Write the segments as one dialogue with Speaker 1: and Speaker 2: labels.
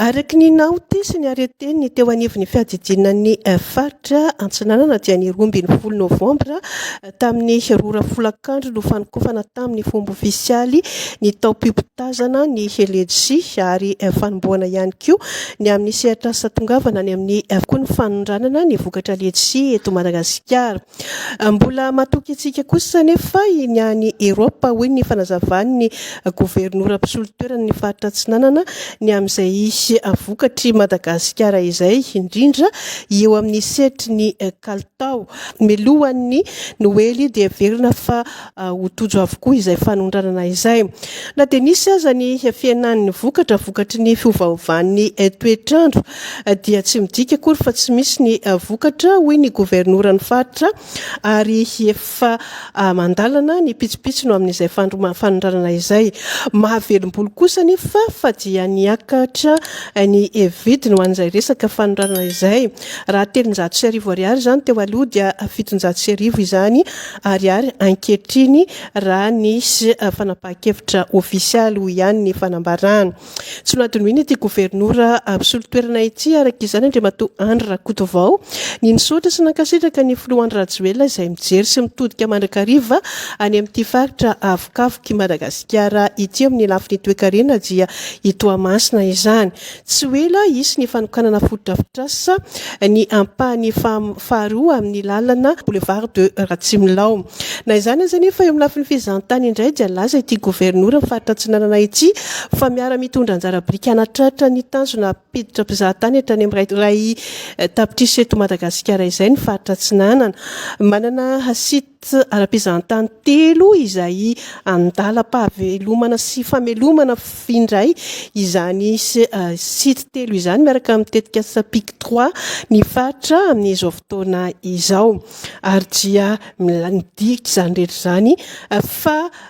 Speaker 1: Araka ny naoty sy ny arrêté-n'ny teo anivon'ny fiadidianan'ny faritra Antsinanana dia ny roa ambin'ny folo novambra tamin'ny roa ora folakandro no fanokafana tamin'ny fomba ofisialy ny taom-pimpitazana ny LEDC ary fanombohana ihany koa ny amin'ny sehatrasa tongavana any amin'ny koa ny fanondranana ny vokatra LEDC eto Madagasikara. Mbola matoky antsika kosa anefa ny any Eropa, hoy ny fanazavan'ny governora mpisolo toerana ny faritra Atsinanana, ny amin'izay hisy vokatr'i Madagasikara izay, indrindra eo amin'ny sehatry ny kalitao. Milohan'ny Noely dia heverina fa ho tojo avokoa izay fanondranana izay. Na dia nisy aza ny fihenan'ny vokatra vokatry ny fiovaovan'ny toetr'andro dia tsy midika akory fa tsy misy ny vokatra, hoy ny governoran'ny faritra, ary efa ah, mandalana ny pitsopitsony amin'izay fanondranana izay. Mahavelombolo kosa anefa fa dia niakatra ny vidiny ho an'izay resaka fanondranana izay. Raha telonjato sy arivo ariary izany teo aloha dia fitonjato sy arivo izany Ariary ankehitriny raha nisy fanapahan-kevitra ofisialy, hoy ihany ny fanambarany. Tsy nohadinoina ity governora mpisolo toerana ity araka izany Andriamatoa Andry Rakotovao. Ny nisaotra sy nankasitraka ny filoha Andry Rajoelina izay mijery sy mitodika mandrakariva any amin'ity faritra avokavoky Madagasikara ity amin'ny lafiny toekarena dia i Toamasina izany. Tsy ho ela hisy ny fanokanana fotodrafitrasa ny ampahany faharoa amin'ny lalana Boulevard de Ratsimilao. Na izany aza anefa, eo amin'ny lafiny fizahantany indray dia nilaza ity governoran'ny faritra Atsinanana ity fa miara-mitondra anjara biriky hanatratra ny tanjona hampiditra mpizahatany hatrany amin'ny iray tapitrisa eto Madagasikara izay ny faritra Atsinanana. Manana Tsy ara-pizahantany telo izay andalam-pahavelomana sy famelomana indray izany site telo izany miaraka amin'ny tetikasa Pic trois ny faritra amin'izao fotoana izao. Ary dia midika izany rehetra izany fa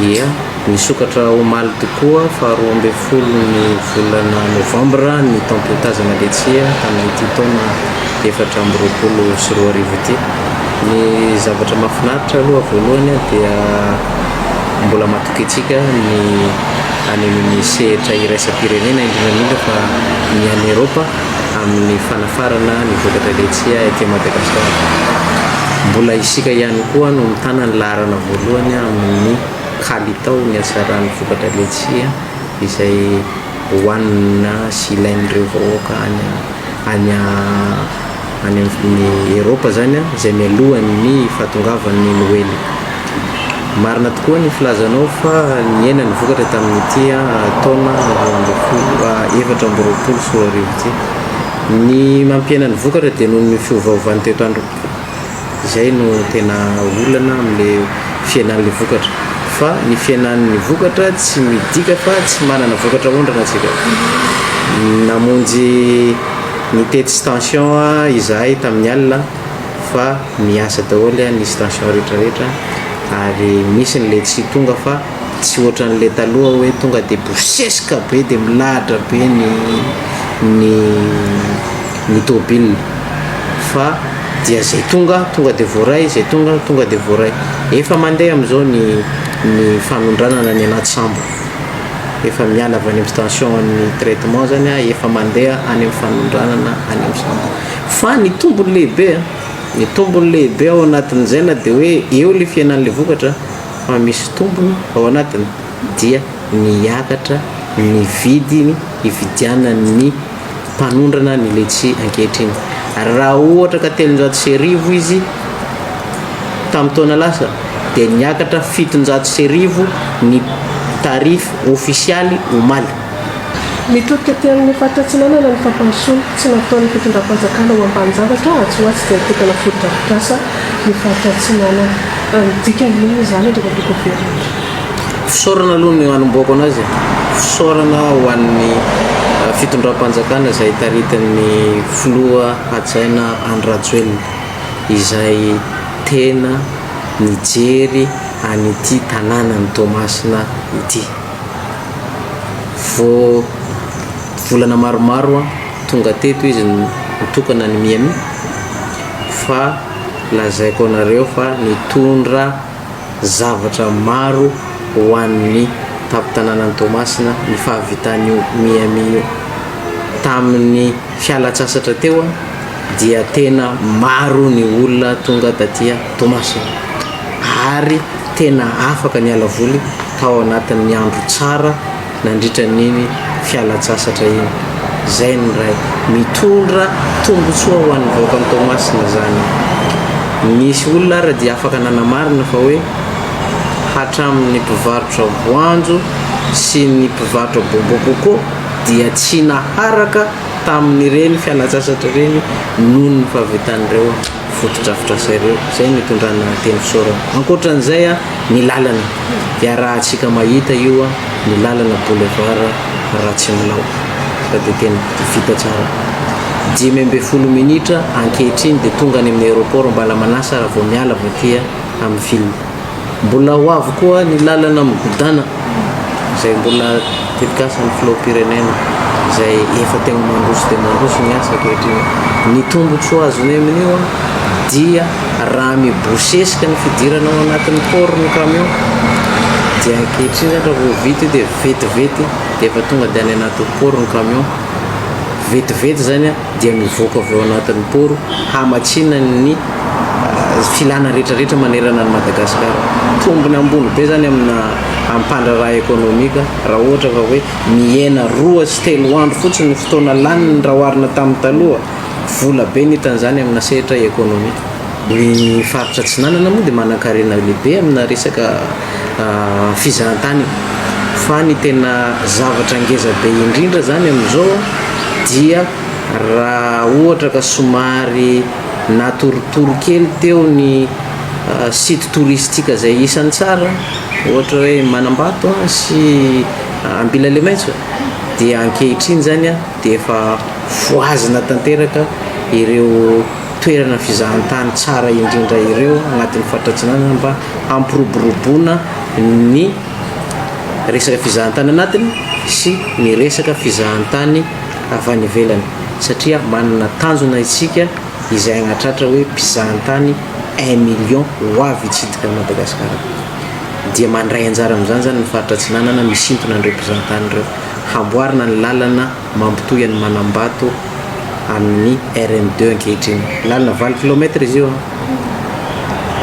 Speaker 2: Ia, nisokatra omaly tokoa, faharoa ambin'ny folo ny volana novambra, ny taom-piotazana letsia tamin'ity taona efatra amby roapolo sy roa arivo ity. Ny zavatra mahafinaritra aloha voalohany dia mbola matoky antsika ny any amin'ny sehatra iraisam-pirenena, indrindra indrindra fa ny any Eropa, amin'ny fanafarana ny vokatra letsia ety Madagasikara. Mbola isika ihany koa no mitana ny laharana voalohany amin'ny kalitao ny hatsaran'ny vokatra letsia izay hohanina sy ilain'ireo vahoaka any any any amin'ny Eropa izany an, izay mialohan'ny fahatongavan'ny Noely. Marina tokoa ny filazanao fa nihena ny vokatra tamin'ity taona roa ambin'ny folo, efatra amby roapolo sy roa arivo ity. Ny mampihena ny vokatra dia noho ny fiovaovan'ny toetr'andro. Izay no tena olana amin'ilay fihenan'ilay vokatra. Fa ny fihenan'ny vokatra tsy midika fa tsy manana vokatra aondrana isika. Namonjy Nitety stansion izahay tamin'ny alina fa miasa daholo ny stansion rehetra rehetra ary misy ny le tsy tonga fa tsy ohatran'ny le taloha hoe tonga de bosesika be de milahatra be ny ny ny tôbila fa dia zay tonga tonga de voaray zay tonga tonga de voaray efa mandeha amizao ny ny fanondranana ny anaty sambo. efa miala avy any amin'ny station an'ny traitement zany a, efa mandeha any amin'ny fanondranana any amin'ny centre. Fa ny tombony lehibe a, ny tombony lehibe ao anatin'izay na dia hoe eo le fihenan'le vokatra fa misy tombony ao anatiny dia miakatra ny vidiny ividianan'ny mpanondrana ny letchi ankehitriny ary raha ohatra ka telonjato sy arivo izy tamin'ny taona lasa dia niakatra fitonjato sy arivo ny tarif ofisialy omaly. Mitodika
Speaker 1: aty amin'ny faritra Atsinanana ny fampandrosoana tsy nataon'ny fitondram-panjakana ho ambanin-javatra atsy ho atsy izay mitokana fotodrafitrasa ny faritra Atsinanana. Ny dikany inona izany ry Rabekobe Andry?
Speaker 2: Fisaorana aloha no hanombohako anazy e, fisaorana ho an'ny fitondram-panjakana izay taritin'ny filoha hajaina Andry Rajoelina izay tena nijery an'ity tanànan'i Toamasina ity. Vao volana maromaro tonga teto izy nitokana ny Miami fa lazaiko anareo fa nitondra zavatra maro ho an'ny tampon-tanànan'i Toamasina ny fahavitan'io Miami io. Tamin'ny fialan-tsasatra teo dia tena maro ny olona tonga taty Toamasina ary tena afaka niala voly tao anatin'ny andro tsara nandritra an'iny fialan-tsasatra iny. Izay ny iray. Mitondra tombontsoa ho an'ny vahoakan'i Toamasina izany. Nisy olona ary dia afaka nanamarina fa hoe hatramin'ny mpivarotra voanjo sy ny mpivarotra bonbon coco dia tsy naharaka tamin'ireny fialan-tsasatra ireny noho ny fahavitan'ireo fotodrafitrasa ireo. Izay no itondrana teny fisaorana. Ankoatra an'izay, ny lalana dia arahantsika mahita io ny lalana boulevard Ratsimanao fa dia tena vita tsara. Dimy ambin'ny folo minitra ankehitriny dia tonga any amin'ny aéroport Ambalamanasa raha vao miala avy aty amin'ny ville. Mbola ho avy koa ny lalana migodàna izay mbola tetikasan'ny filoham-pirenena izay efa teo mandroso dia mandroso ny asa ankehitriny. Ny tombotsoa azony amin'io dia raha mibosesika ny fidirana ao anatin'ny port ny camion dia ankehitriny zany raha vao vita io dia vetivety dia efa tonga dia any anatin'ny port ny camion, vetivety zany an! dia mivoaka avy ao anatin'ny poro hamatsiana ny filana rehetra rehetra manerana an'i Madagasikara. Tombony ambony be izany amina ampandraraha ekonomika raha ohatra ka hoe mihena roa sy telo andro fotsiny ny fotoana laniny raha oharina tamin'ny taloha. Vola be ny hitan'izany amina sehatra ekonomika. Ny faritra Atsinanana moa dia manan-karena lehibe amina resaka fizahantany io fa ny tena zavatra ngeza be indrindra zany amin'izao dia raha ohatra ka somary natoritory kely teo ny site touristique izay isan'ny tsara ohatra hoe manambato sy ambilalemaitso dia ankehitriny zany a dia efa voazina tanteraka ireo toerana fizahantany tsara indrindra ireo agnatin'ny faritratsinanana mba hampiroboroboana ny resaka fizahantany anatiny sy ny resaka fizahantany avy any ivelany satria manana tanjona isika izay agnatratra hoe mpizahantany un million ho avy hitsidika an'i Madagasikara dia mandray anjara amin'izany zany ny faritra Atsinanana misintona an'ireo mpizahantany ireo hamboarina ny lalana mampitohy an'i Manambato amin'ny RN deux ankehitriny. Lalana valo kilomètre izy io an!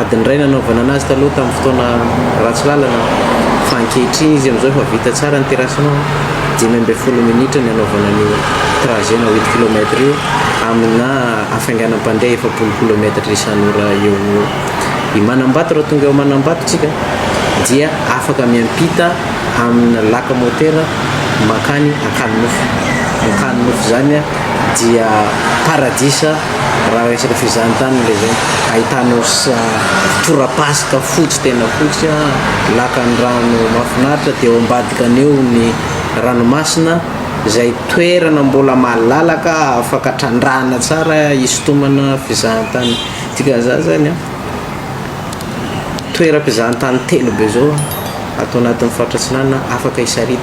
Speaker 2: Adiny iray nanaovana anazy taloha tamin'ny fotoana ratsy lalana fa ankehitriny izy amin'izao efa vita tsara ny terrassement an! Dimy ambin'ny folo minitra ny anaovana an'io trajet na huit kilomètre io amina hafainganam-pandeha efapolo kilomètre isan'ora eo ho eo. I Manambato raha tonga eo Manambato tsika dia afaka miampita amina laka motera mankany Ankany Nofo. Ny Ankany Nofo izany dia paradisa raha resaka fizahan-tany ilay izany. Ahitanao tora-pasika fotsy tena fotsy, lakan-drano mahafinaritra dia ao ambadikan'ny eo ny ranomasina izay toerana mbola malalaka afaka trandrahana tsara hisintomana fizahan-tany. Dikan'izany izany an! Toeram-pizahantany telo be izao ato anatin'ny faritra Atsinanana afaka hisaritana.